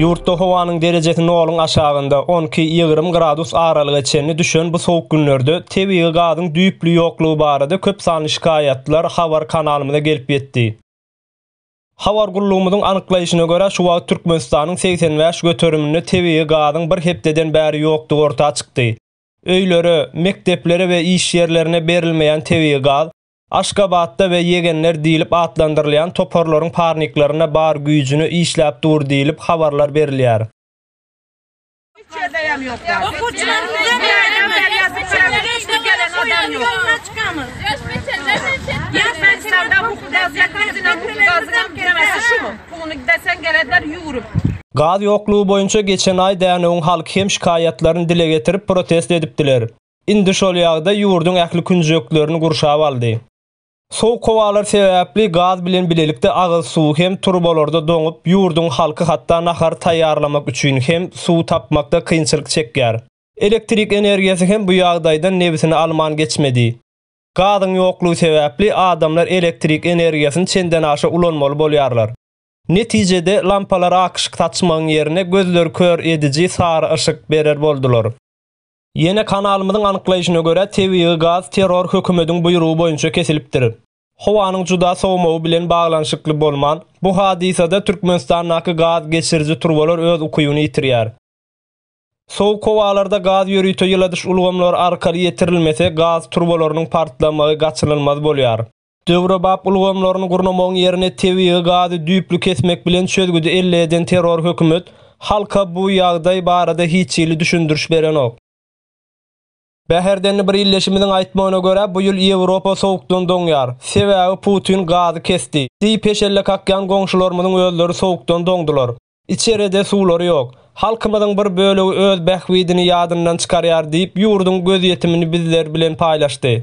Ýurtda howanyň derejesi noluň aşagynda, on iki, ýigrimi gradus aralyga çenli düşen bu sowuk günlerde tebigy gazyň düýpli ýoklugy barada köp sanly şikaýatlar habar kanalymyza gelip ýetdi. Habar gullugymyzyň anyklaýşyna görä, şu wagt Türkmenistanyň segsen bäş göteriminde tebigy gazyň bir hepdeden bäri ýokdugy orta çykdy. Öýlere, mekdeplere we iş ýerlerine berilmeýän tebigy gaz, Aşgabatda we ýegenler diýlip atlandyrylýan toparlaryň parniklerinde bar güýjüne işläp dur diýlip, habarlar berilýär. Gaz ýoklugy boýunça geçen aý Dänewiň halky hem şikaýatlaryny dile getirip, protest edipdiler. Indi şol ýagdaý ýurduň ähli künjeklerini gurşap aldy. Sowuk howalar sebäpli gaz bilen bilelikde agyz suw hem turbalarda doňup, ýurduň halky hatda nahar taýýarlamak üçin hem suw tapmakda kynçylyk çekýär. Elektrik energiýasy hem bu ýagdaýdan nebsini alman geçmedi. Gazyň ýoklugy sebäpli adamlar elektrik energiýasyny çendenaşa ulanmaly bolýarlar. Netijede, lampalar akyşyk saçmagyň ýerine gözleri kör ediji sary yşyk berer boldular. Ýene kanalymyzyň anyklaýşyna görä, tebigy gaz terror hökümediň buýrugy boýunça kesilipdir. Howanyň juda sowmagy bilen baglanyşykly bolman, bu hadysada Türkmenistandaky gaz geçiriji turbalar öz ukybyny ýitirýär. Sowuk howalarda gaz ýörite ýyladyş ulgamlary arkaly ýetirilmese, gaz turbalarynyň partlamagy gaçynylmaz bolýar. Döwrebap ulgamlaryny gurnamagyň ýerine tebigy gazy düýpli kesmek bilen çözgüdi elle eden terror hökümet halka bu ýagdaý barada hiç hili düşündiriş berenok. Bäherdenli bir ildeşimiziň aýtmagyna görä, bu ýyl Ýewropa sowukdan doňýar. Sebäbi Putin gazy kesdi. Diýip heşelle kakýan goňşularymyzyň özleri sowukdan doňdular. Içeride suwlary ýok. Halkymyzyň bir bölegi öz bähbidini ýadyndan çykarýar diýip, ýurduň gözýetimini bizler bilen paýlaşdy.